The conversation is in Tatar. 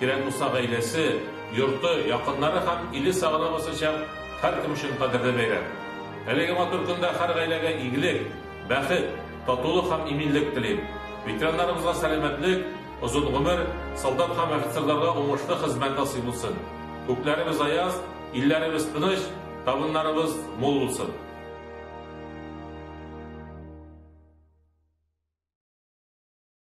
Кирәк булса гаиләсе, йорты, якыннары һәм иле сагына басачак һәркем өчен кадерле бәйрәм. Әлеге матур көндә һәр гаиләгә игелек, бәхет, татулык һәм иминлек телим. Ветераннарыбызга сәламәтлек, озын гомер, солдат һәм офицерларга уңышлы хезмәт насыйп булсын. Күкләребез аяз, илләребез тыныч, табыннарыбыз мул булсын.